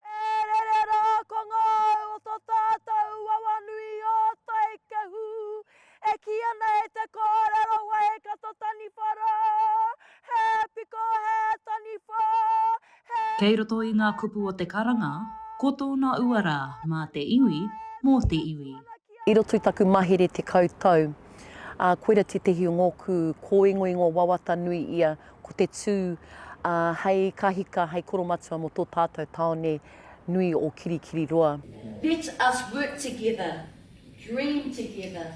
E rere rā ko ngā au o tō tātou wawa nui o Taikehu e kī ana e te kōrero wai ka tō taniwha rā, he piko, he taniwha, he. Kei roto i ngā kupu o te karanga, ko tōna uara mā te iwi, mō te iwi. I roto i taku mahere tekau tau, ā, koira tētehi o ngōku kōingoingo wawata nui ia, ko te tū, ā, hei ka hika, hei koromatua mō tō tātou tāone nui o Kirikiriroa. Let us work together, dream together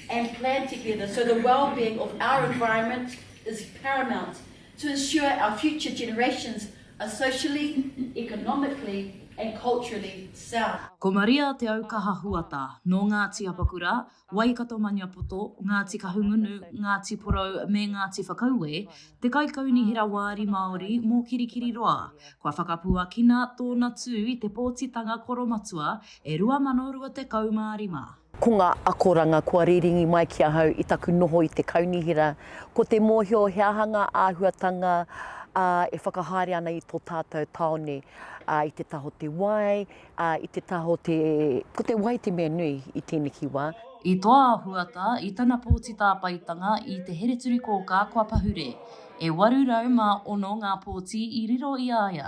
and plan together so the wellbeing of our environment is paramount to ensure our future generations are socially, economically and culturally sound. Ko Maria Te Aukaha Huata, nō Ngāti Apakura, Waikato-Maniapoto, Ngāti Kahungunu, Ngāti Porou me Ngāti Whakaue, te kaikaunihera wāri Māori mō Kirikiriroa. Kua whakapuakina tōna tū i te pōtitanga koromatua e 2025. Ko ngā akoranga kua rīringi mai ki ahau i taku noho i te kaunihera, ko te mōhio he aha ngā āhuatanga e whakahaere ana i tō tātou tāone, i te taha o te wai, i te taha o te, ko te wai te mea nui i tēneki wā. I toa a Huata i tana pōti tāpaetanga i Te Hereturikōkā kua pahure. E 806 ngā pōti i riro i a ia,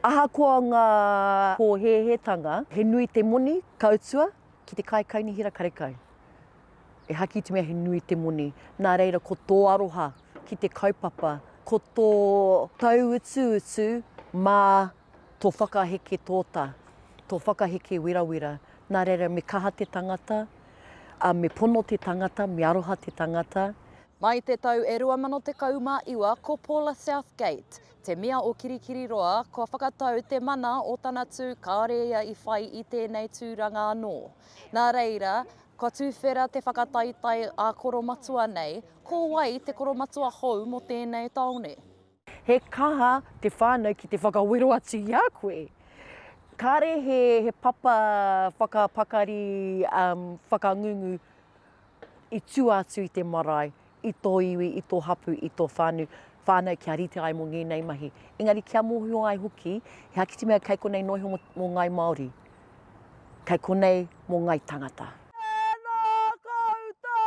Ahakoa ngā pōhēhētanga, he nui te moni ka utua ki te kaikainihera karekau. E haki i te mea he nui te moni, nā reira ko tō aroha ki te kaupapa, ko tō tauutuutu mā Tō whakaheke tōtā, tō whakaheke werawera, nā reira me kaha te tangata, ā, me pono te tangata, me aroha te tangata. Mai te tau e 2019 ko Paula Southgate te mea o Kirikiriroa kua whakatau te mana o tana tū kāore ia i whai i tēnei tūranga anō. Nā reira, kua tuwhera te whakataetae ā-koromatua nei, ko wai te koromatua hou mō tēnei tāone? He kaha te whānau ki te whakawero atu i a koe. Kāre he papa whakapakari whakangungu i tua atu i te marae, i tō iwi, i tō hapū, i tō whānau kia rite ai mō ngēnei mahi. Engari kia mōhio ai hoki, he ākiti mea kei konei noa iho mō Ngāi Māori, kei konei mō Ngāi Tangata. Tēnā koutou!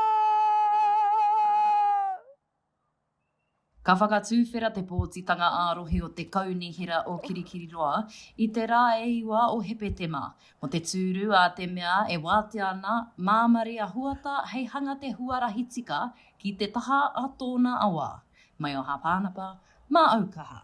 Ka whakatuwhera te pōtitanga ā-rohe o te Kaunihera o Kirikiriroa i te rā e iwa o Hepetema, mō te tūru a te mea e wātea ana Māmari a Huata hei hanga te huarahi tika ki te taha a tōna awa, Maioha Pānapa, mā Aukaha.